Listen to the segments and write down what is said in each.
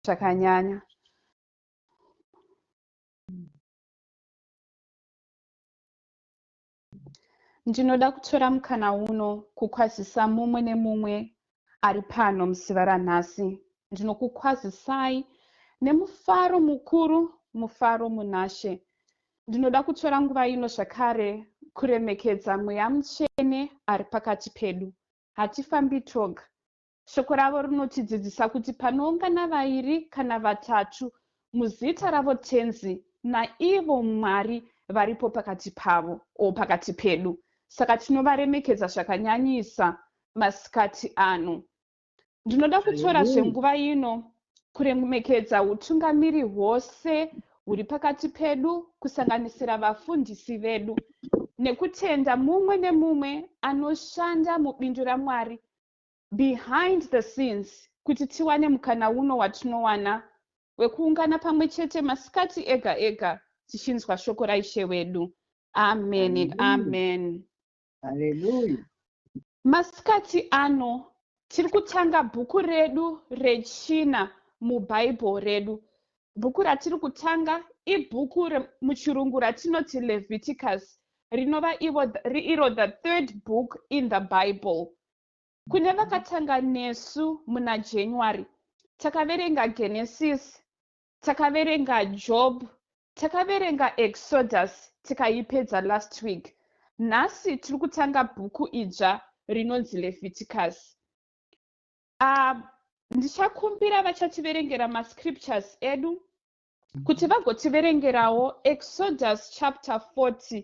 zvakanyanya ndinoda kutora mukana uno kukwazisa mumwe nemumwe ari pano musiva ranhasi ndinokukwazisai nemufaro mukuru mufaro munashe ndinoda kutora nguva ino zvakare kuremekedza mweya mutsvene ari pakati pedu hatifambi toga Shoko ravo rinotidzidzisa kuti panoungana vairi kana vatatu muzita ravo Tenzi, naivo Mwari varipo pakati pavo o pakati pedu. Saka tinovaremekedza zvakanyanyisa masikati ano. Ndinoda kutorazve nguva ino kuremekedza utungamiri hwose huri pakati pedu kusanganisira vafundisi vedu nekutenda mumwe nemumwe anoshanda mubindu ramwari behind the scenes kuti tiwane mukana uno watinowana wekuungana pamwe chete masikati ega ega tichinzwa shoko raishe wedu amen and amen haleluya masikati ano tiri kutanga bhuku redu rechina mubhaibheri redu bhuku ratiri kutanga ibhuku muchirungu ratinoti leviticus rinova iro the third book in the bible Kune vakatanga nesu muna January takaverenga Genesis, takaverenga Job, takaverenga Exodus tikaipedza last week. Nhasi tiri kutanga bhuku idzva rinonzi Leviticus. Ah, ndichakumbira vachativerengera mascriptures edu kuti vagotiverengerawo Exodus chapter 40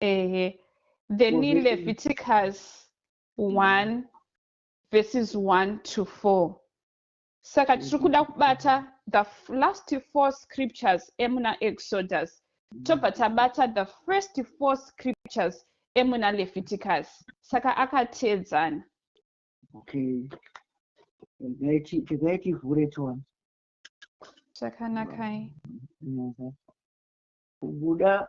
ehe then leviticus 1 verses 1 to 4 saka tiri kuda mm-hmm. kubata the last four scriptures emuna exodus mm-hmm. tobva tabata the first four scriptures emuna leviticus saka akateedzana okay regai tivhure tione zvakanakai kubuda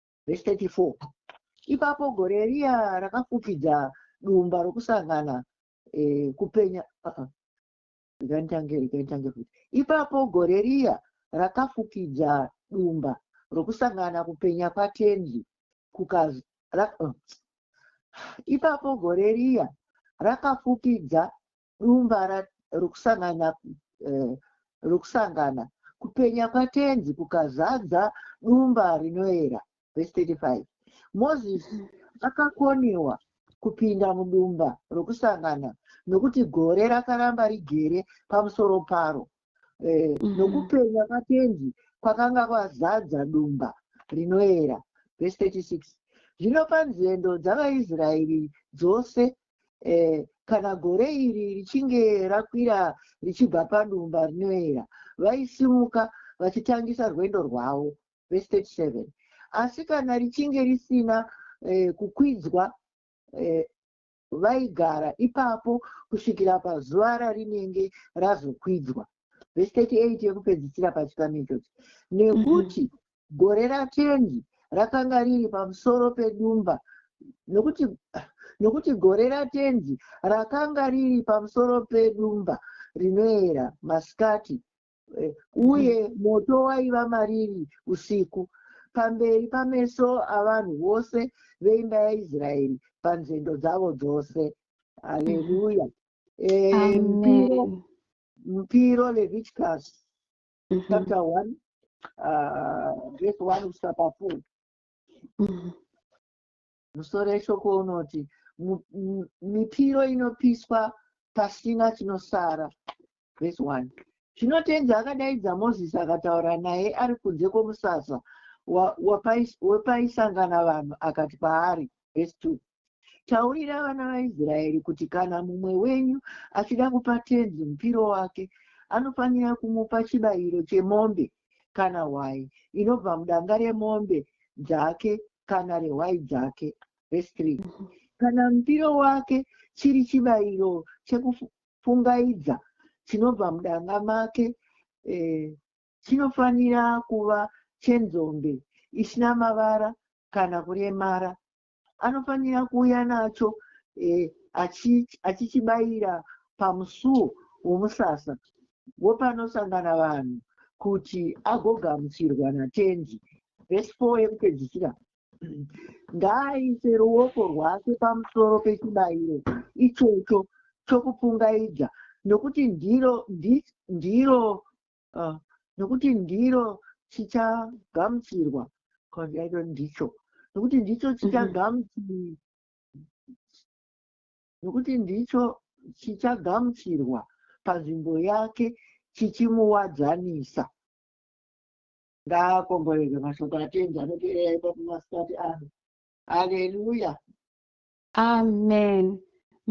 vhesi 34 ipapo gore riya rakafukidza dumba rokusangana eh, kupenya uh-uh. ikantange ikantange futi ipapo gore riya rakafukidza dumba rokusangana kupenya kwatenzi kukaz ra, uh. ipapo gore riya rakafukidza dumba rokusangana eh, rokusangana kupenya kwatenzi kukazadza dumba rinoera vhesi 35 mozisi akakoniwa kupinda mudumba rokusangana nokuti gore rakaramba rigere pamusoro paro eh, mm. nokupenya kwatenzi kwakanga kwazadza dumba rinoera vhesi 36 zvino panzendo dzavaisraeri dzose eh, kana gore iri richinge rakwira richibva padumba rinoera vaisimuka vachitangisa rwendo rwavo vestate seven asi kana richinge risina eh, kukwidzwa eh, vaigara ipapo kusvikira pazuva rarinenge razokwidzwa vhesiteti 8 yekupedzisira pachikamichochi nekuti mm -hmm. Gore raTenzi rakanga riri pamusoro pedumba, nokuti, nokuti gore raTenzi rakanga riri pamusoro pedumba rinoera masikati, eh, uye moto waiva mariri usiku, pamberi pameso avanhu vose veimba yaIsraeri panzendo dzavo dzose. Haleluya! Eh, mupiro, Amen. mupiro Leviticus mm-hmm. chapter one uh, verse one kusvika pafour mm-hmm. musoro yeshoko unoti mipiro inopiswa pasina chinosara verse one zvino tenzi akadaidza mozisi akataura naye ari kunze kwomusasa wepaisangana vanhu akati kwaari verse two Taurira vana vaIsraeri kuti kana mumwe wenyu achida kupa tenzi mupiro wake, anofanira kumupa chibayiro chemombe kana hwai inobva mudanga remombe dzake kana rehwai dzake. Vhesi 3 mhm. Kana mupiro wake chiri chibayiro chekufungaidza chinobva mudanga make, eh, chinofanira kuva chenzombe isina mavara kana kuremara anofanira kuuya nacho eh, achichibayira pamusuo womusasa wopanosangana vanhu kuti agogamuchirwa natendi vhesi 4 yekupedzisira ngaaise ruoko rwake pamusoro pechibayiro ichocho chokupungaidza nokuti ndiro ndiro uh, nokuti ndiro chichagamuchirwa kwandaito ndicho nokuti ndicho mhm. chichagamuchirwa nokuti ndicho chichagamuchirwa panzvimbo yake chichimuwadzanisa ngaakomborerwe mashoko atenzi anoteerera ipapo masikati ano haleluya Amen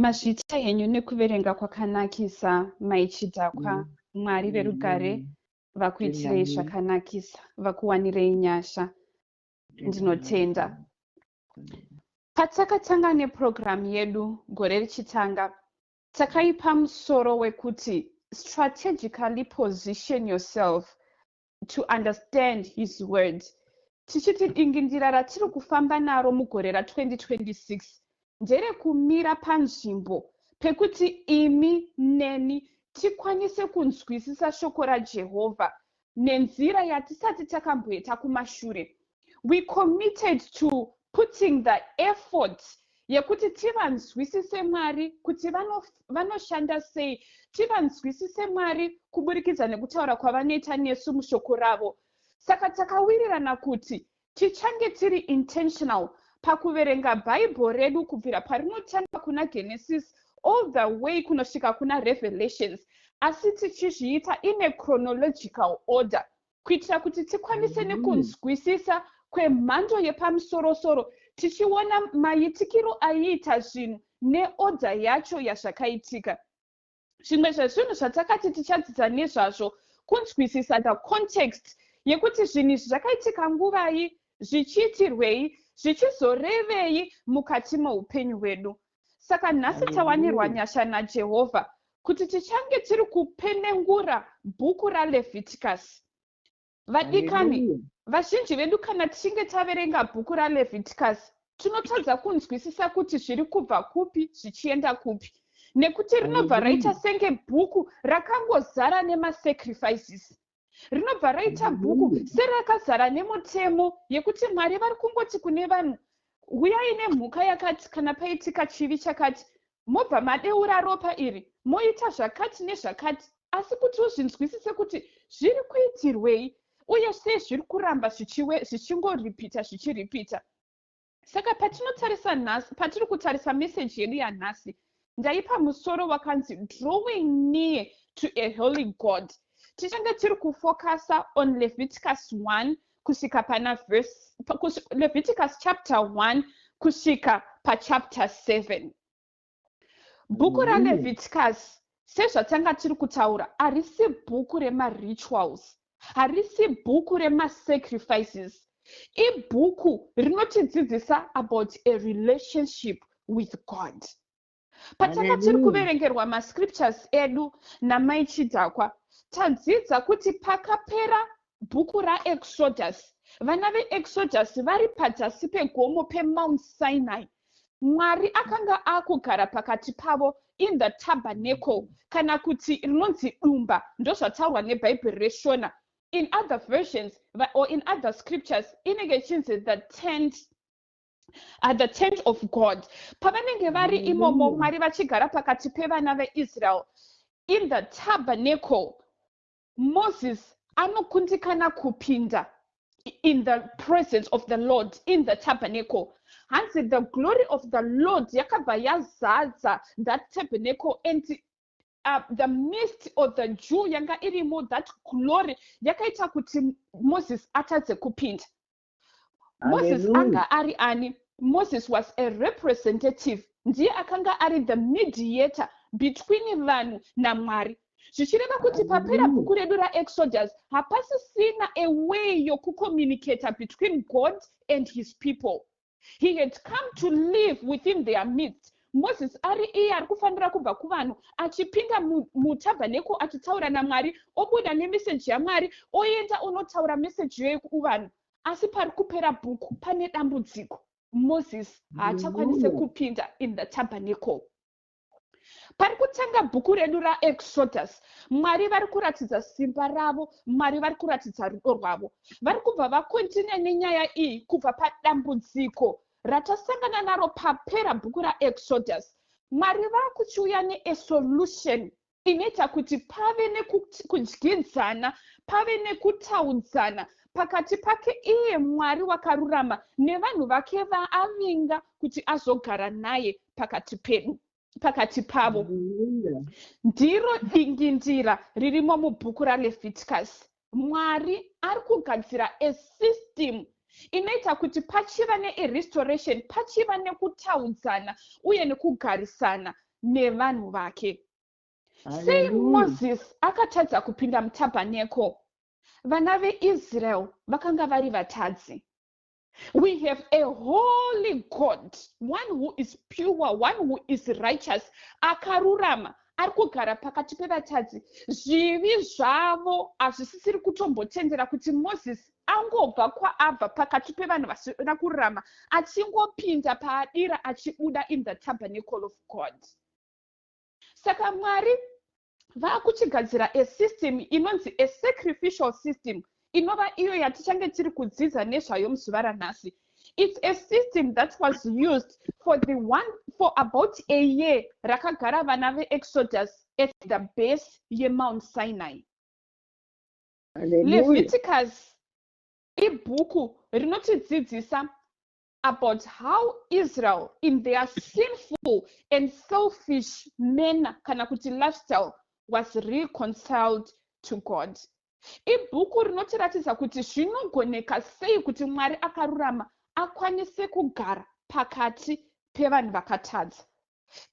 mazviita henyu nekuverenga kwakanakisa mai chidhakwa mwari verugare vakuitirei zvakanakisa vakuwanirei nyasha ndinotenda patakatanga nepurogiramu yedu gore richitanga takaipa musoro wekuti strategically position yourself to understand his words tichiti dingindira ratiri kufamba naro mugore ra 2026 nderekumira panzvimbo pekuti imi neni tikwanise kunzwisisa shoko rajehovha nenzira yatisati takamboita kumashure we committed to putting the effort yekuti tivanzwisise mwari kuti vanoshanda vano sei tivanzwisise mwari kuburikidza nekutaura kwavanoita nesu mushoko ravo saka takawirirana kuti tichange tiri intentional pakuverenga bhaibheri redu kubvira parinotanga kuna genesis all the way kunosvika kuna revelations asi tichizviita in a chronological order kuitira kuti tikwanise mm. nekunzwisisa kwemhando yepamusorosoro tichiona maitikiro aiita zvinhu neodha yacho yazvakaitika zvimwe zvezvinhu zvatakati tichadzidza nezvazvo kunzwisisa the context yekuti zvinhu izvi zvakaitika nguvai zvichiitirwei zvichizorevei mukati meupenyu hwedu Saka nhasi tawanirwa nyasha naJehovha kuti tichange tiri kupenengura bhuku raLevhitikasi. Vadikani, vazhinji vedu kana tichinge taverenga bhuku raLevhitikasi, tinotadza kunzwisisa kuti zviri kubva kupi zvichienda kupi nekuti rinobva raita senge bhuku rakangozara nemasacrifices rinobva raita bhuku serakazara nemutemo yekuti mwari vari kungoti kune vanhu huyai nemhuka yakati kana paitika chivi chakati mobva madeura ropa iri moita zvakati nezvakati asi kuti uzvinzwisise kuti zviri kuitirwei uye sei zviri kuramba zvichingoripita zvichiripita Saka patinotarisa nhasi, patiri kutarisa meseji yedu yanhasi, ndaipa musoro wakanzi drawing near to a holy god. Tichange tiri kufokasa on Leviticus 1 kusvika pana verse, Leviticus chapter 1 kusvika pachapter 7. bhuku raleviticus sezvatanga tiri kutaura harisi bhuku remarituals harisi bhuku remasacrifices ibhuku rinotidzidzisa about a relationship with god patanga tiri kuverengerwa mascriptures edu namaichidhakwa tadzidza kuti pakapera bhuku raexodus vana veexodus vari padzasi pegomo pemount sinai mwari akanga akugara pakati pavo in the tabernacle kana kuti rinonzi dumba ndozvataurwa nebhaibheri reshona in other versions or in other scriptures inenge ichinzi the tent at the tent of god pavanenge vari imomo mwari vachigara pakati pevana veisrael in the tabernacle Moses anokundikana kupinda in the presence of the Lord in the tabernacle. Hanzi the glory of the Lord yakabva yazadza that tabernacle and uh, the mist or the dew yanga irimo that glory yakaita kuti Moses atadze kupinda. moses anga ari ani moses was a representative ndiye akanga ari the mediator between vanhu namwari zvichireva kuti papera bhuku redu raexodus hapasisina a way yokucommunicata between god and his people he had come to live within their midst Moses ari iye ari kufanira kubva kuvanhu achipinda mutaberneko achitaura namwari obuda nemeseji yamwari oenda onotaura meseji iyoyo kuvanhu asi pari kupera bhuku pane dambudziko moses haachakwanise kupinda in the taberneko pari kutanga bhuku redu raexodus mwari vari kuratidza simba ravo mwari vari kuratidza rudo rwavo vari kubva vakontinue nenyaya iyi kubva padambudziko pa ratasangana naro papera bhuku raExodus, Mwari vakuchiuya neesolution inoita kuti pave nekudyidzana, pave nekutaudzana pakati pake iye Mwari wakarurama nevanhu vake vaavinga kuti azogara naye pakati pedu. pakati pavo ndiro dingindira ririmo mubhuku raleviticus mwari ari kugadzira a system inoita kuti pachiva nerestoration pachiva nekutaudzana uye nekugarisana nevanhu vake sei moses akatadza kupinda mutabhaneko vana veisrael vakanga vari vatadzi We have a holy God, one who is pure, one who is righteous, akarurama ari kugara pakati pevatadzi zvivi zvavo hazvisisiri kutombotendera kuti mozisi angobva kwaabva pakati pevanhu vasina kururama achingopinda paadira achibuda in the tabernacle of god saka mwari vakuchigadzira a system inonzi a sacrificial system inova iyo yatichange tiri kudzidza nezvayo muzuva ranhasi it's a system that was used for the one for about a year rakagara vana veexodus at the base yemount sinai leviticus ibhuku rinotidzidzisa about how israel in their sinful and selfish manner kana kuti lifestyle was reconciled to god ibhuku rinotiratidza kuti zvinogoneka sei kuti mwari akarurama akwanise kugara pakati pevanhu vakatadza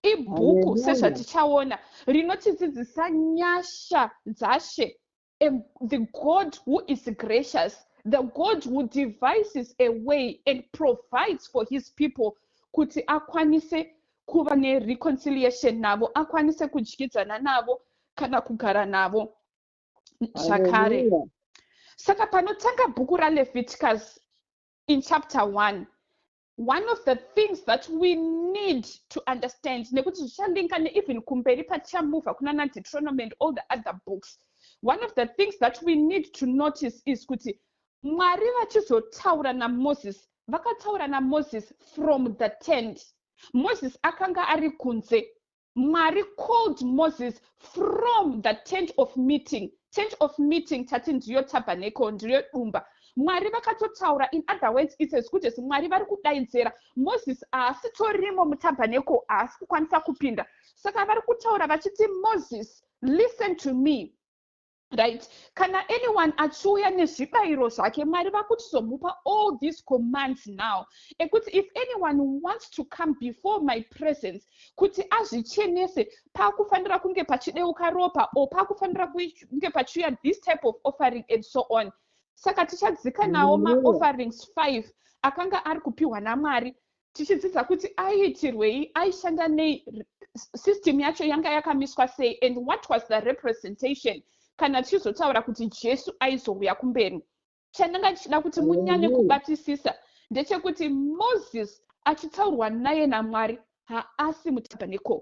ibhuku sezvatichaona rinotidzidzisa nyasha dzashe and the God who is gracious, the God who devises a way and provides for his people kuti akwanise kuva nereconciliation navo akwanise kudyidzana navo kana kugara navo zvakare saka panotanga bhuku raleviticus in chapter one one of the things that we need to understand nekuti zvichalinka neeven kumberi patichamuva kuna nadeutronomy and all the other books one of the things that we need to notice is kuti mwari vachizotaura namoses vakataura namoses from the tent moses akanga ari kunze mwari called moses from the tent of meeting tent of meeting tati ndiyo tabernacle ndiyo dumba mwari vakatotaura in other words its as good as mwari vari kudaidzera moses haasitorimo mutabernacle haasi kukwanisa kupinda saka vari kutaura vachiti moses listen to me right kana anyone achiuya nezvibayiro zvake mwari vakutizomupa all these commands now ekuti if anyone wants to come before my presence kuti azvichenese pakufanira kunge pachideuka ropa or pakufanira kunge pachiuya this type of offering and so on saka tichadzika nawo maofferings five akanga ari kupiwa namwari tichidzidza kuti aiitirwei aishanda nei system yacho yanga yakamiswa sei and what was the representation kana tichizotaura kuti jesu aizouya kumberi chandanga ndichida kuti munyanye kubatisisa ndechekuti moses achitaurwa naye namwari haasi mutabernacle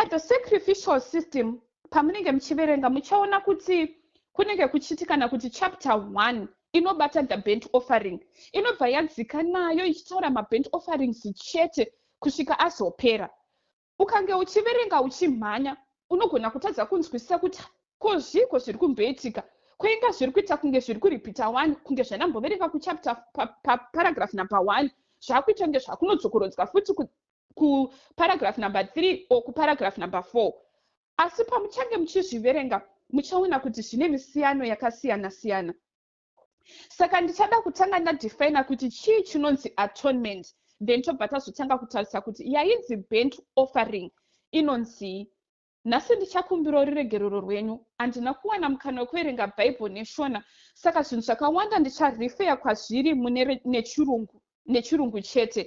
paThe Sacrificial System pamunenge muchiverenga muchaona kuti kunenge kuchiti kana kuti chapter one inobata the bent offering inobva yadzika nayo ichitaura mabent offerings chete kusvika azopera ukange uchiverenga uchimhanya unogona kutadza kunzwisisa kuti ko zviiko zviri kumboitika kwainga zviri kuita kunge zviri kuripita one kunge zvanamboverenga kuchapter paparagraph number one zvakuita kunge zvakunodzokorodzwa futi kuparagraph number three or kuparagraph number four asi pamuchange muchizviverenga muchaona kuti zvine misiyano yakasiyana siyana saka ndichada kutanga ndadefina kuti chii chinonzi atonement then tobva tazotanga kutarisa kuti yainzi bent offering inonzii Nhasi ndichakumbirawo ruregerero rwenyu. Handina kuwana mukana wekuverenga Bible neShona saka zvinhu zvakawanda ndicharifeya kwazviri mune nechirungu, nechirungu chete.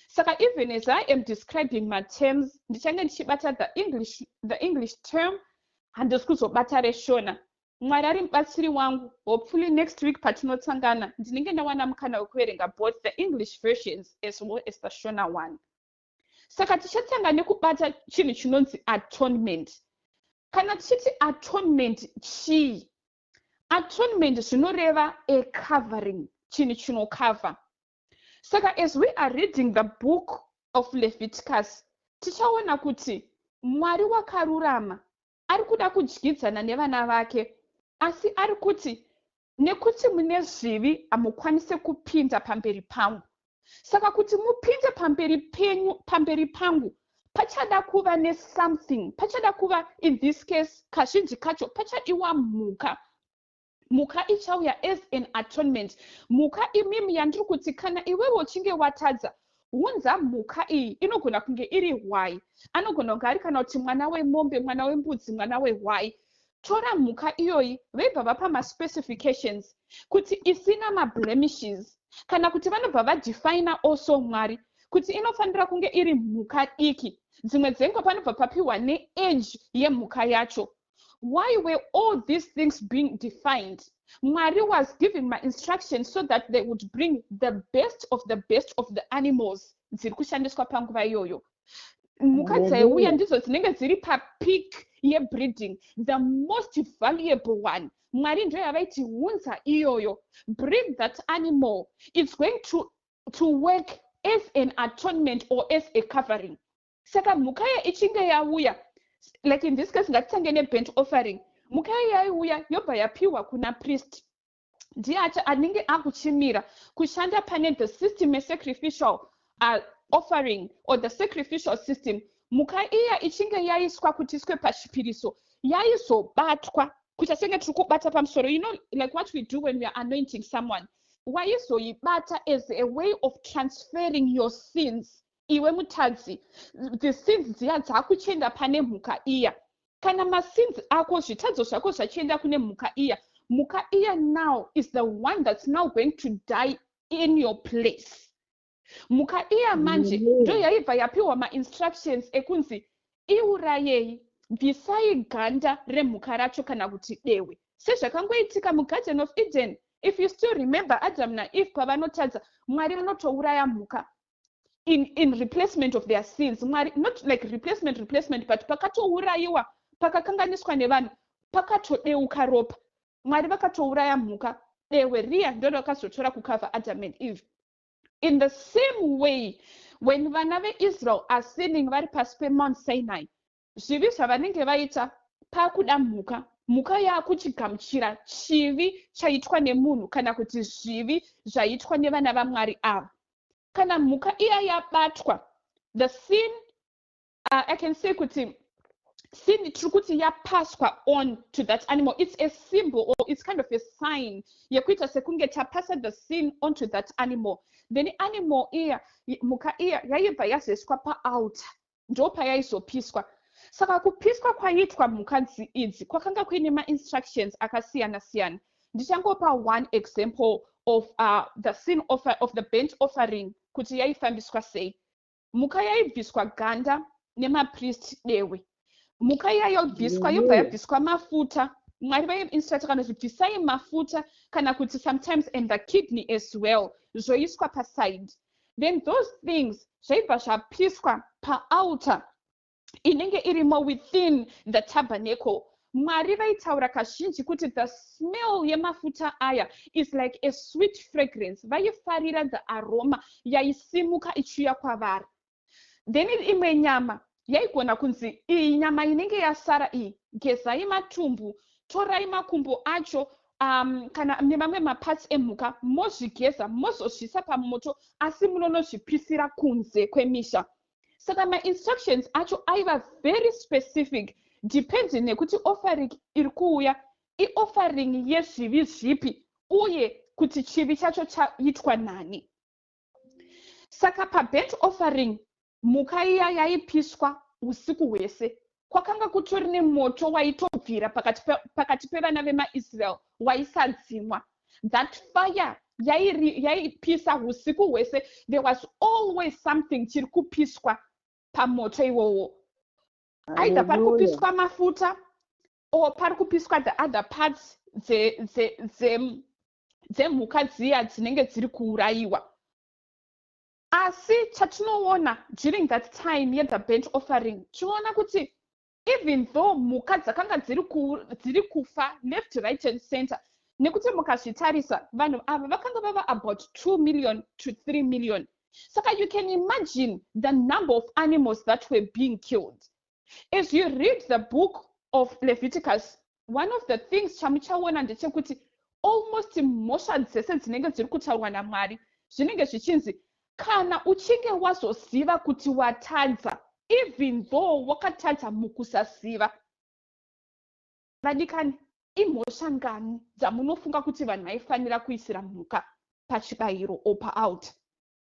Saka even as I am describing materms ndichange ndichibata the English, the English term handisi kuzobata reShona. Mwari ari mubatsiri wangu. Hopefully next week patinotsangana ndinenge ndawana mukana wekuverenga both the English versions as well as the Shona one. saka tichatanga nekubata chinhu chinonzi atonement kana tichiti atonement chii atonement zvinoreva a covering chinhu chinokavha saka as we are reading the book of leviticus tichaona kuti mwari wakarurama ari kuda kudyidzana nevana vake asi ari kuti Nekuti mune zvivi hamukwanise kupinda pamberi pangu. Saka kuti mupinde pamberi penyu pamberi pangu pachada kuva nesomething pachada kuva in this case kazhinji kacho pachadiwa mhuka mhuka ichauya as an atonement mhuka imimi yandiri kuti kana iwewe uchinge watadza hunza mhuka iyi inogona kunge iri hwai anogona kunge ari kana kuti mwana wemombe mwana wembudzi mwana wehwai tora mhuka iyoyi veibva vapa maspecifications kuti isina mablemishes kana kuti vanobva vadefina also mwari kuti inofanira kunge iri mhuka diki dzimwe dzenguva panobva papiwa neage yemhuka yacho why were all these things being defined mwari was giving mainstructions so that they would bring the best of the best of the animals dziri kushandiswa panguva iyoyo mhuka dzaiuya ndidzo dzinenge dziri papeak yebreeding the most valuable one mwari ndiyo yavaiti hunza iyoyo bring that animal its going to, to work as an atonement or as a covering saka mhuka iya ichinge yauya like in this case ngatitange nebent offering mhuka iya yaiuya yobva yapiwa kuna priest ndiye anenge akuchimira kushanda pane the system yesacrificial uh, offering or the sacrificial system mhuka iya ichinge yaiswa kuti iswe pachipiriso yaizobatwa kuita senge tiri kubata pamusoro you know like what we do when weare anointing someone waizoibata as a way of transferring your sins iwe mutadzi the sins dziya dzakuchienda pane mhuka iya kana masins ako zvitadzo zvako zvachienda kune mhuka iya mhuka iya now is the one that's now going to die in your place mhuka iya manje ndo yaibva yapiwa mainstructions ekunzi iurayei bvisai ganda remhuka racho kana kuti dewe sezvakangoitika mugarden of eden if you still remember adam naeve pavanotadza mwari vanotouraya mhuka in, in replacement of their sins mwari not like replacement replacement but pakatourayiwa pakakanganiswa nevanhu pakatodeuka ropa mwari vakatouraya mhuka dehwe riya ndorakazotora kukavha adam and eve in the same way when vana veisrael are sinning vari pasi pemount sinai zvivi zvavanenge vaita pakuda mhuka mhuka yakuchigamuchira chivi chaitwa nemunhu kana kuti zvivi zvaitwa nevana vamwari ava kana mhuka iya yabatwa the sin uh, i can say kuti sin tiri kuti yapaswa on to that animal it's a symbol or it's kind of a sign yekuita sekunge tapasa the sin onto that animal then animal iya mhuka iya yaibva yazoiswa paalter ndopayaizopiswa saka kupiswa kwaiitwa mhuka idzi kwakanga kuine mainstructions akasiyana siyana ndichangopa one example of uh, the scene of, uh, of the bent offering kuti yaifambiswa sei mhuka yaibviswa ganda nemaprist dehwe mhuka iya yobviswa yobva yabviswa mafuta mwari vaiinstruct kana kuti bvisai mafuta kana kuti sometimes and the kidney as well zvoiswa paside so then those things zvaibva zvapiswa paaltar inenge irimo within the tabernacle mwari vaitaura kazhinji kuti the smell yemafuta aya is like a sweet fragrance vaifarira the aroma yaisimuka ichiuya kwavari then imwe nyama yaigona kunzi iyi nyama inenge yasara iyi gezai matumbu torai makumbo acho um, kana nemamwe maparts emhuka mozvigeza mozozvisa pamoto asi munonozvipisira kunze kwemisha saka mainstructions acho aiva very specific depending nekuti offering iri kuuya ioffering yezvivi zvipi uye kuti chivi chacho chaitwa nani saka pabent offering mhuka iya yaipiswa usiku hwese kwakanga kutori nemoto waitobvira pakati, pe, pakati pevana vemaisrael waisadzimwa that fire yaipisa yai usiku hwese there was always something chiri kupiswa pamoto iwowo aidha pari kupiswa mafuta or pari kupiswa the other parts dze, dze, dze, dzemhuka dziya dzinenge dziri kuurayiwa asi chatinoona during that time yethe bent offering tinoona kuti even though mhuka dzakanga dziri kufa left right and center nekuti mukazvitarisa vanhu ava vakanga vava about two million to three million saka you can imagine the number of animals that were being killed as you read the book of leviticus one of the things chamuchaona ndechekuti almost mhosva dzese dzinenge dziri kutaurwa namwari zvinenge zvichinzi kana uchinge wazoziva kuti watadza even though wakatadza mukusaziva vadikani imhosva ngani dzamunofunga kuti vanhu vaifanira kuisira mhuka pachibayiro or paalt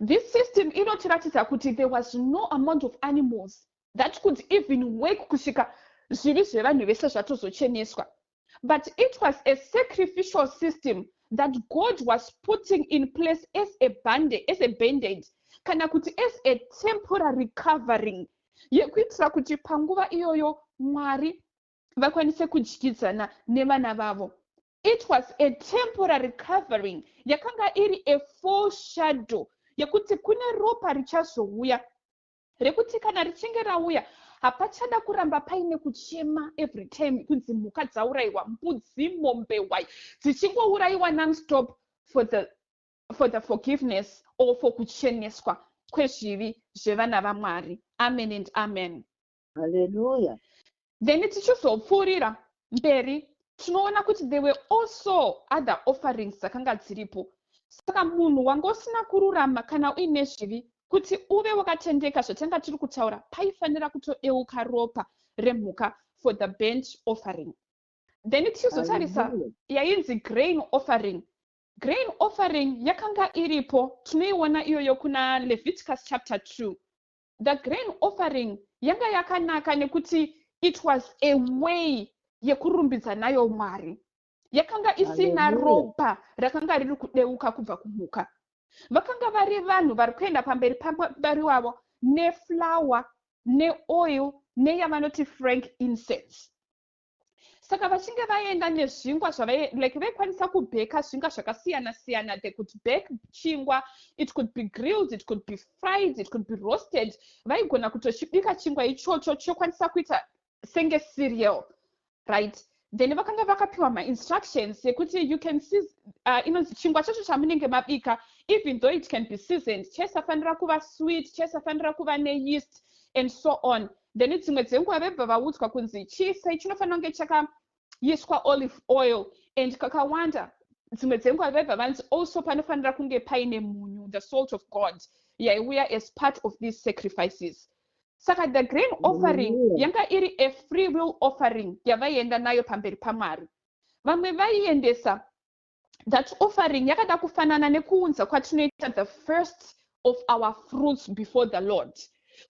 This system inotiratidza kuti there was no amount of animals that could even work kusvika zvivi zvevanhu vese zvatozocheneswa but it was a sacrificial system that god was putting in place as a bande as a bandage kana kuti as a temporary covering yekuitira kuti panguva iyoyo mwari vakwanise kudyidzana nevana vavo it was a temporary covering yakanga iri a full shadow yekuti kune ropa richazouya rekuti kana richinge rauya hapachada kuramba paine kuchema every time kunzi mhuka dzaurayiwa mbudzi mombe wai dzichingourayiwa nonstop for the, for the forgiveness or for kucheneswa kwezvivi zvevana vamwari amen and amen haleluya then tichizopfuurira mberi tinoona kuti there were also other offerings dzakanga dziripo saka munhu wanga usina kururama kana uine zvivi kuti uve wakatendeka zvatanga tiri kutaura paifanira kutodeuka ropa remhuka for the bent offering then tichizotarisa yainzi grain offering grain offering yakanga iripo tinoiona iyoyo kuna leviticus chapter 2 the grain offering yanga yakanaka nekuti it was a way yekurumbidza nayo mwari yakanga isina ropa rakanga riri kudeuka kubva kumhuka vakanga vari vanhu vari kuenda pamberi pamwari wavo neflower neoil neyavanoti frank incense saka vachinge vaenda nezvingwa zvavai like vaikwanisa kubheka zvingwa zvakasiyana siyana they could bake chingwa it could be grilled it could be fried it could be roasted vaigona kutochibika chingwa ichocho chokwanisa kuita senge cereal right then vakanga vakapiwa mainstructions yekuti you can see uh, inonzi chingwa chacho chamunenge mabika even though it can be seasoned chaisafanira kuva sweet chaisafanira kuva neyeast and so on then dzimwe dzenguva vebva vaudzwa kunzi chiisai chinofanira kunge chakaiswa olive oil and kakawanda dzimwe dzenguva vebva vanzi also panofanira kunge paine munyu the salt of god yaiuya as part of these sacrifices saka the grain offering yanga iri a free will offering yavaienda nayo pamberi pamwari vamwe vaiendesa that offering yakada kufanana nekuunza kwatinoita the first of our fruits before the lord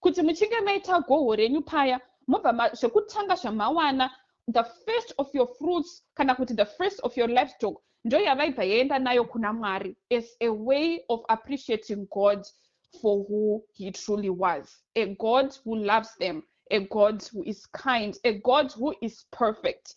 kuti muchinge maita goho renyu paya mobva zvekutanga zvamawana the first of your fruits kana kuti the first of your livestock ndo yavaibva yaenda nayo kuna mwari as a way of appreciating god for who he truly was a god who loves them a god who is kind a god who is perfect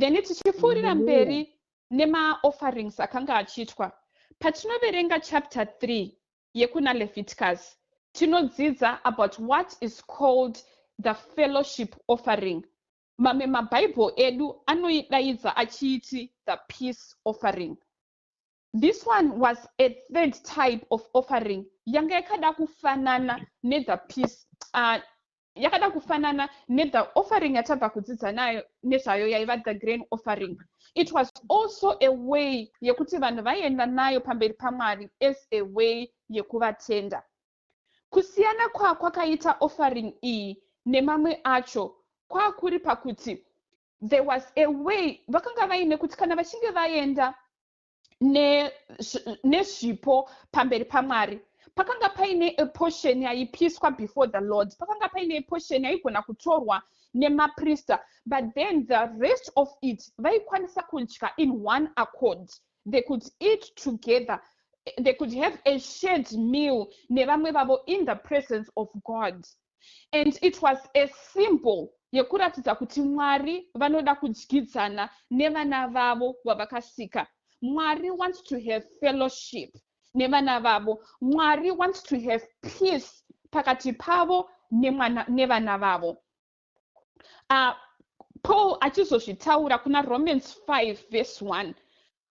then tichipfuurira mberi nemaofferings akanga achiitwa patinoverenga chapter 3 yekuna leviticus tinodzidza about what is called the fellowship offering mamwe mabhaibheri edu anoidaidza achiiti the peace offering This one was a third type of offering yanga yakada kufanana nethe peace uh, yakada kufanana nethe offering yatabva kudzidza nayo nezvayo yaiva the grain offering it was also a way yekuti vanhu vaienda nayo pamberi pamwari as a way yekuvatenda kusiyana kwakwakaita offering iyi nemamwe acho kwakuri pakuti there was a way vakanga vaine kuti kana vachinge vaenda nezvipo ne pamberi pamwari pakanga paine eportion yaipiswa before the lord pakanga paine eportion yaigona kutorwa nemaprista but then the rest of it vaikwanisa kudya in one accord they could eat together they could have a shared meal nevamwe vavo in the presence of god mm. and it was a symbol yekuratidza kuti mwari vanoda kudyidzana nevana vavo vavakasika mwari wants to have fellowship nevana vavo mwari wants to have peace pakati pavo nevana vavo uh, paul achizozvitaura kuna romans 5 vese 1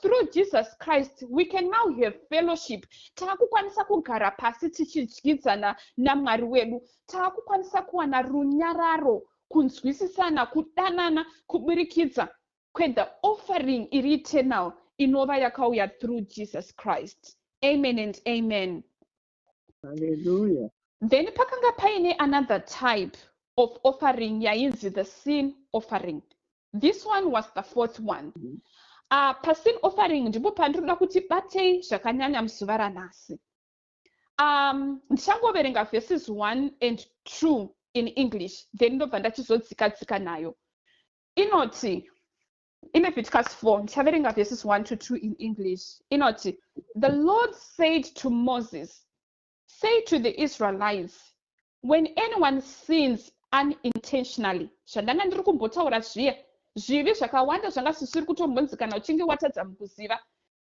through jesus christ we can now have fellowship taakukwanisa kugara pasi tichidyidzana namwari wedu taakukwanisa kuwana runyararo kunzwisisana kudanana kuburikidza kwethe offering iri eternal inova yakauya through jesus christ amen and amen Hallelujah. then pakanga paine another type of offering yainzi the sin offering this one was the fourth one Mhm. uh, pasin offering ndipo pandinoda kuti batei zvakanyanya muzuva ranhasi um, ndichangoverenga verses 1 and 2 in english then ndobva ndachizodzika dzika nayo inoti Ileviticus 4 ndichaverenga verses 1 to 2 in English inoti the Lord said to Moses say to the Israelites when anyone sins unintentionally zvandanga ndiri kumbotaura zviya zvivi zvakawanda zvanga zvisiri kutombonzi kana uchinge watadza mukuziva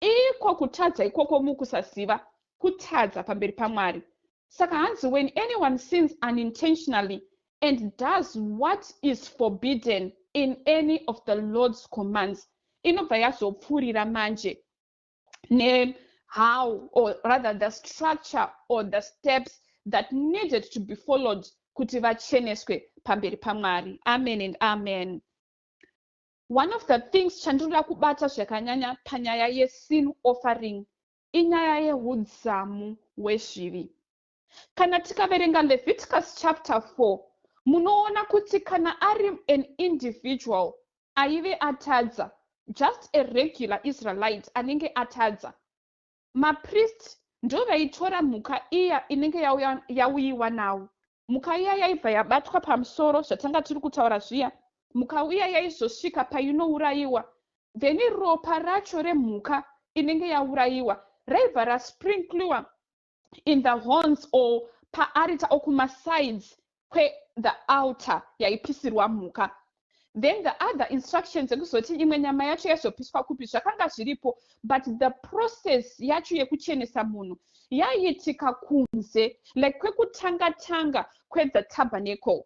Iko kutadza ikoko mukusaziva, kutadza pamberi paMwari. Saka hanzi when anyone sins unintentionally and does what is forbidden in any of the Lord's commands, inobva yazopfuurira manje ne how or rather the structure or the steps that needed to be followed kuti vacheneswe pamberi pamwari amen and amen One of the things chandinoda kubata zvakanyanya panyaya yesin offering inyaya yehudzamu hwezvivi. Kana tikaverenga Leviticus chapter 4 munoona kuti kana ari an individual aive atadza just a regular israelite anenge atadza mapriest ndo vaitora mhuka iya inenge yauyiwa nawo mhuka iya yaibva yabatwa pamusoro zvatanga tiri kutaura zviya mhuka iya yaizosvika painourayiwa then ropa racho remhuka inenge yaurayiwa raibva rasprinkliwa in the horns or paarita or kumasides kwe the altar yaipisirwa mhuka then the other instruction dzekuzoti imwe nyama yacho yaizopiswa kupi zvakanga zviripo but the process yacho yekuchenesa munhu yaiitika kunze like kwekutanga tanga kwethe tabernacle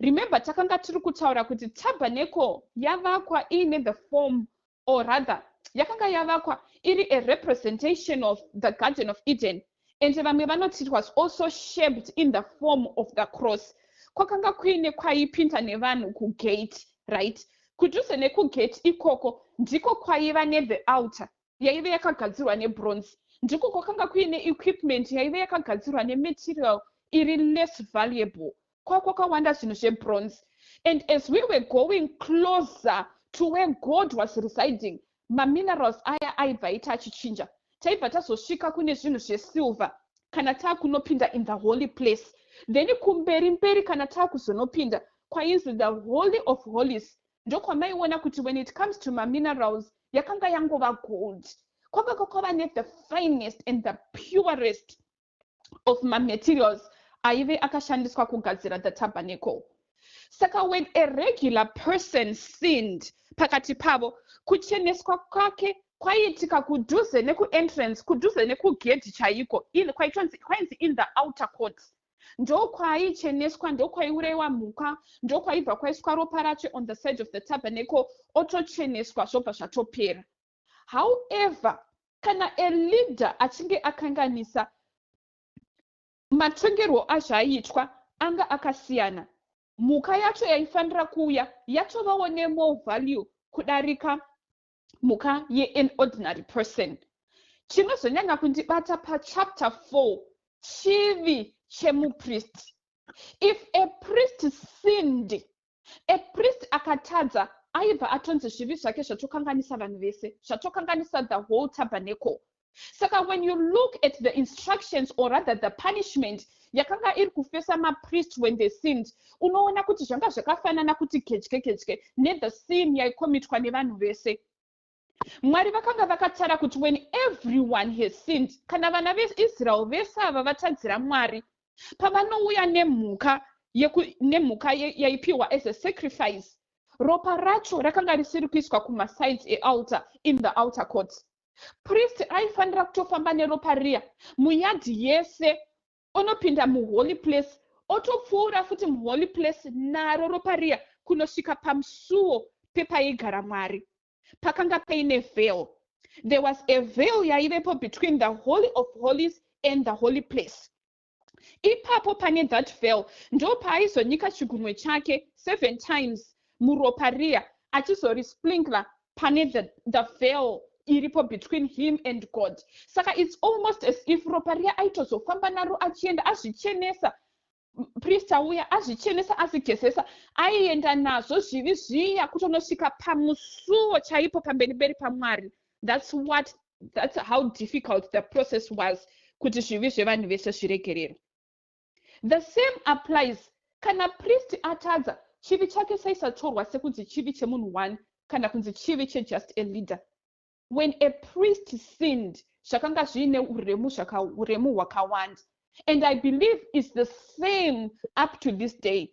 remember takanga tiri kutaura kuti tabernacle yavakwa iine the form or rather yakanga yavakwa iri a representation of the garden of eden and vamwe vanoti it was also shaped in the form of the cross kwakanga kuine kwaipinda nevanhu kugate right kudhuze nekugate ikoko ndiko kwaiva nethe alter yaive yakagadzirwa nebronze ndiko kwakanga kuine equipment yaive yakagadzirwa nematerial iri less valuable kwakwakawanda zvinhu zvebronze and as we were going closer to where god was residing maminerals aya aibva aita achichinja taibva tazosvika kune zvinhu zvesilver kana taakunopinda in the holy place then kumberi mberi kana taakuzonopinda kwainzi the holy of holies ndokwamaiona kuti when it comes to maminerals yakanga yangova gold kwakanga kwava ne the finest and the purest of mamaterials aive akashandiswa kugadzira the tabernacle saka when a regular person sinned pakati pavo kucheneswa kwake kwaiitika kudhuze nekuentrance kudhuze nekugedhi chaiko kwainzi in the outer court ndokwaicheneswa ndokwaiurayiwa mhuka ndokwaibva kwaiswa ropa racho on the side of the tabernacle otocheneswa zvobva zvatopera however kana a leader achinge akanganisa matongerwo azvaiitwa anga akasiyana mhuka yacho yaifanira kuuya yatovawo nemore value kudarika mhuka yean ordinary person chinozonyanya kundibata pachapter 4 chivi chemupristi if a priest sinned a priest akatadza aibva atonzi zvivi zvake zvatokanganisa vanhu vese zvatokanganisa the whole tabernacle saka when you look at the instructions or rather the punishment yakanga iri kufesa mapriest when they sinned unoona kuti zvanga zvakafanana kuti gedye gedye nethe sin yaikomitwa nevanhu vese mwari vakanga vakatara kuti when everyone has sinned kana vana veisrael vese ava vatadzira mwari pavanouya nemhuka nemhuka yaipiwa as a sacrifice ropa racho rakanga risiri kuiswa kumasides ealter in the outer court priest aifanira kutofamba neropa riya muyadhi yese onopinda muholy place otopfuura futi muholy place naro ropa riya kunosvika pamusuwo pepaigara mwari pakanga paine veil there was a veil yaivepo between the holy of holies and the holy place ipapo pane that veil ndo paaizonyika chigunwe chake seven times muropa riya achizorisplinker pane the, the veil iripo between him and god saka its almost as if ropa riya aitozofamba naro achienda azvichenesa priest auya azvichenesa azigezesa aienda nazvo zvivi zviya kutonosvika pamusuwo chaipo pamberi beri pamwari thats what thats how difficult the process was kuti zvivi zvevanhu vese zviregererwe The same applies kana priest atadza chivi chake chaisatorwa sekunzi chivi chemunhu one kana kunzi chivi chejust a leader when a priest sinned zvakanga zviine uremu uremu hwakawanda and i believe its the same up to this day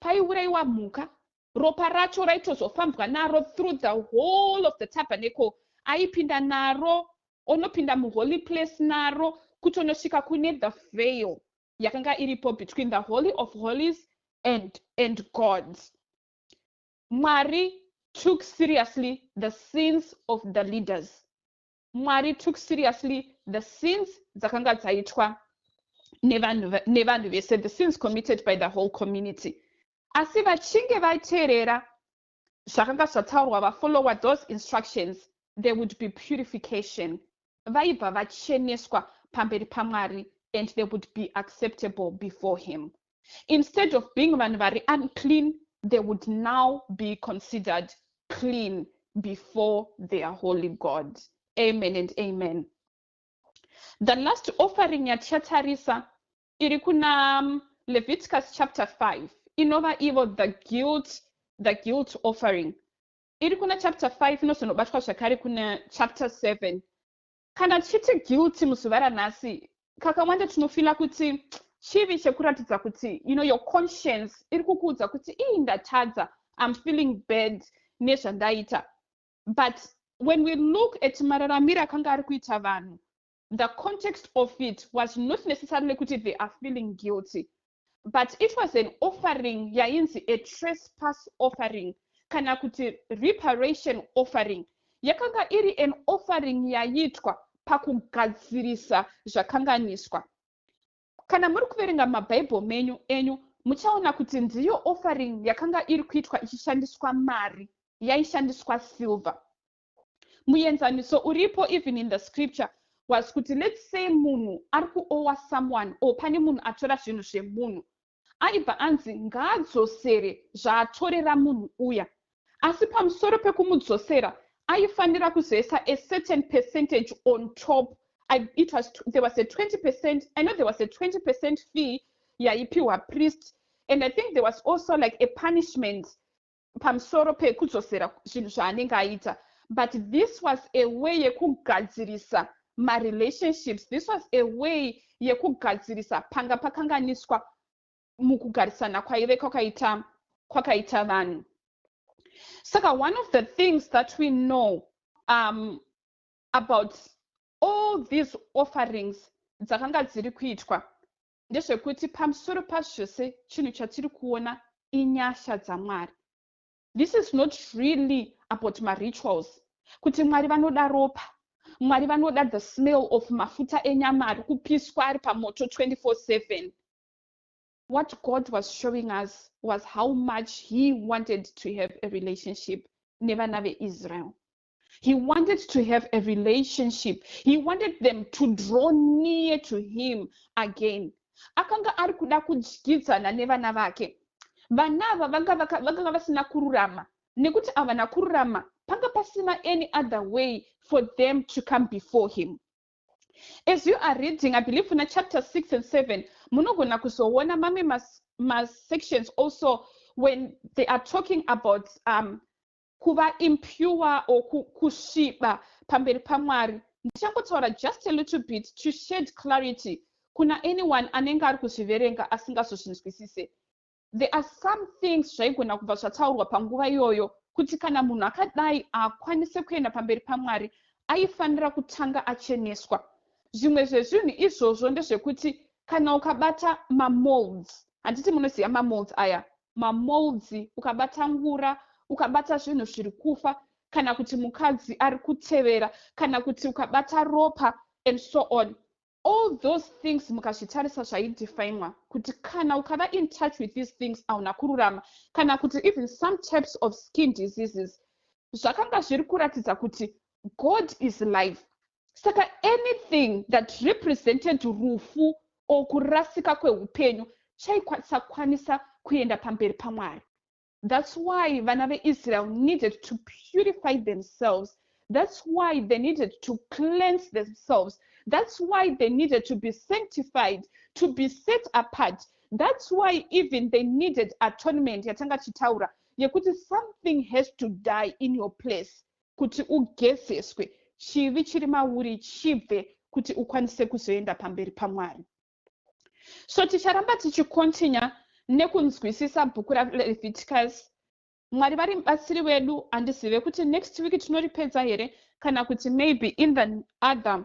Paiurayiwa mhuka, ropa racho raitozofambwa naro through the whole of the tabernacle. Aipinda naro, onopinda muholy place naro, kutonosvika kune the veil yakanga iripo between the holy of holies and, and God. Mwari took seriously the sins of the leaders. Mwari took seriously the sins dzakanga dzaitwa nevanhu vese, the sins committed by the whole community. Asi vachinge vateerera zvakanga zvataurwa vafollower those instructions, there would be purification. Vaibva vacheneswa pamberi paMwari and they would be acceptable before him. instead of being vanhu vari unclean they would now be considered clean before their holy god amen and amen the last offering yatichatarisa iri kuna um, leviticus chapter 5 inova ivo the guilt the guilt offering iri kuna chapter 5 inozonobatwa zvakare kuna chapter 7 Kana tichiti guilty muzuva ranhasi, kakawanda tinofila kuti chivi chekuratidza kuti you know your conscience iri kukuudza kuti ii ndatadza im feeling bad nezvandaita but when we look at mararamiro akanga ari kuita vanhu the context of it was not necessarily kuti they are feeling guilty but it was an offering yainzi a trespass offering kana kuti reparation offering yakanga iri an offering yaiitwa pakugadzirisa zvakanganiswa kana muri kuverenga mabhaibheri menyu enyu muchaona kuti ndiyo offering yakanga iri kuitwa ichishandiswa mari yaishandiswa silver muenzaniso uripo even in the scripture was kuti let's say munhu ari kuowa someone or pane munhu atora zvinhu zvemunhu aibva anzi ngaadzosere zvaatorera munhu uya asi pamusoro pekumudzosera aifanira kuzoisa a certain percentage on top I, it was, there was a 20 percent i know there was a 20 percent fee yaipiwa priest and i think there was also like a punishment pamusoro pekudzosera zvinhu zvaanenge aita but this was a way yekugadzirisa marelationships this was a way yekugadzirisa panga pakanganiswa mukugarisana kwaive kwakaita kwakaita vanhu saka one of the things that we know um, about all these offerings dzakanga dziri kuitwa ndezvekuti pamusoro pazvose chinhu chatiri kuona inyasha dzamwari this is not really about marituals kuti mwari vanoda ropa mwari vanoda the smell of mafuta enyama ari kupiswa ari pamoto 24/7 what god was showing us was how much he wanted to have a relationship nevana veisrael He wanted to have a relationship. He wanted them to draw near to him again. Akanga ari kuda kudyidzana nevana vake. Vana ava vanga vanga vasina kururama nekuti avana kururama panga pasina any other way for them to come before him. As you are reading, I believe in chapter 6 and 7, munogona kuzoona mamwe mas, mas sections also when they are talking about um, kuva impure or kusviba pamberi pamwari ndichangotaura just a little bit to shed clarity kuna anyone anenge ari kuzviverenga asingazozvinzwisise there are some things zvaigona kubva zvataurwa panguva iyoyo kuti kana munhu akadai akwanise kuenda pamberi pamwari aifanira kutanga acheneswa zvimwe zvezvinhu izvozvo ndezvekuti kana ukabata mamolds handiti munoziva mamolds aya mamolds ukabata ngura ukabata zvinhu zviri kufa kana kuti mukadzi ari kutevera kana kuti ukabata ropa and so on all those things mukazvitarisa zvaidefinwa kuti kana ukava in touch with these things auna kururama kana kuti even some types of skin diseases zvakanga zviri kuratidza kuti god is life saka anything that represented rufu or kurasika kweupenyu chaisakwanisa kuenda pamberi pamwari that's why vana veisrael needed to purify themselves that's why they needed to cleanse themselves that's why they needed to be sanctified to be set apart that's why even they needed atonement yatanga tichitaura yekuti something has to die in your place kuti ugezeswe chivi chiri mauri chibve kuti ukwanise kuzoenda pamberi pamwari so ticharamba tichikontinya nekunzwisisa bhuku raleviticus mwari vari mubatsiri wedu handizive kuti next week tinoripedza here kana kuti maybe in the other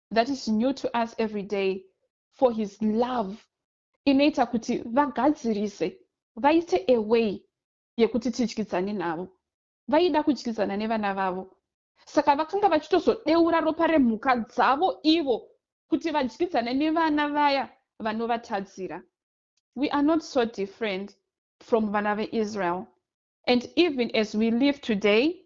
that is new to us every day for his love inoita kuti vagadzirise vaite a way yekuti tidyidzane navo vaida kudyidzana nevana vavo saka vakanga vachitozodeura ropa remhuka dzavo ivo kuti vadyidzane nevana vaya vanovatadzira we are not so different from vana veisrael and even as we live today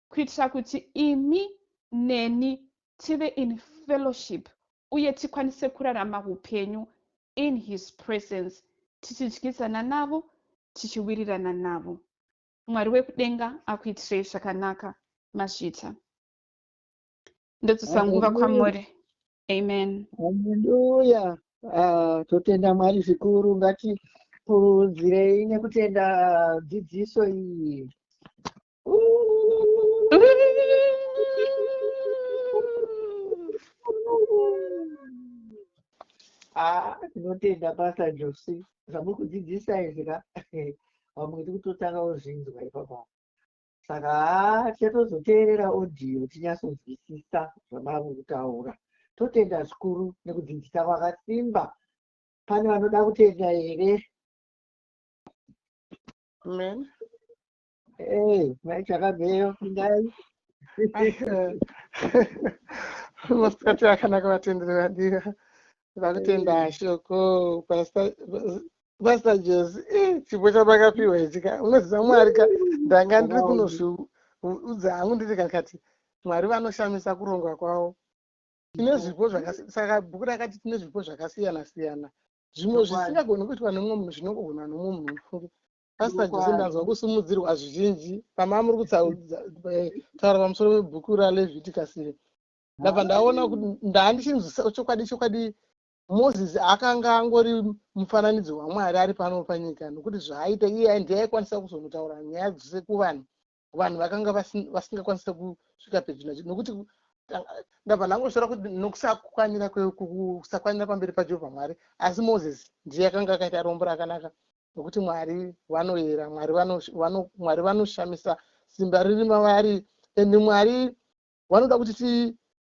kuitira kuti imi neni tive in fellowship uye tikwanise kurarama upenyu in his presence tichidyidzana navo tichiwirirana navo mwari wekudenga akuitirei zvakanaka mazvita ndodzisa nguva kwamuri amen haleluya ah, totenda mwari zvikuru ngatipuruzirei nekutenda dzidziso iyi Ah, tinotenda basa Josi zvamuri kudzidzisa izvi ka vamwe tiri kutotanga kuzvinzwa ipapa saka haa tichatozoteerera audio tinyasonzwisisa zvamari kutaura totenda zvikuru nekudzidzisa kwakasimba pane vanoda kutenda here Amen. Hey, mai chakabveyo pindai. Masikati akanaka vatenderi vadira. Vakutenda shoko pastor pastor Jose. Eh, chipo chabakapiwa ichi ka. Unoziva Mwari ka ndanga ndiri kunozviudza hangu ndiri kakati Mwari vanoshamisa kurongwa kwavo. Tine zvipo zvakasiyana saka bhuku rakati tine zvipo zvakasiyana siyana. Zvimwe zvisingagoni kuitwa nemumwe munhu zvinogona nemumwe munhu mufunge. Pastor Jose Chokwadi. ndanzwa kusimudzirwa zvizhinji pamamuri kutaura pamusoro pebhuku raLeviticus iri ndabva ndaona kuti ndaandichinzwisa chokwadi chokwadi moses akanga angori mufananidzo waMwari ari pano panyika nokuti zvaaita iye ndiye aikwanisa kuzonotaura nyaya dzose kuvanhu vanhu vakanga vasingakwanisa kusvika pedyo nacho nokuti ndabva ndangosvora kuti nokusakwanira kusakwanira pamberi pajehovha mwari asi moses ndiye akanga akaita rombo rakanaka nokuti mwari vanoyera mwari vanoshamisa simba riri mavari ende mwari vanoda kuti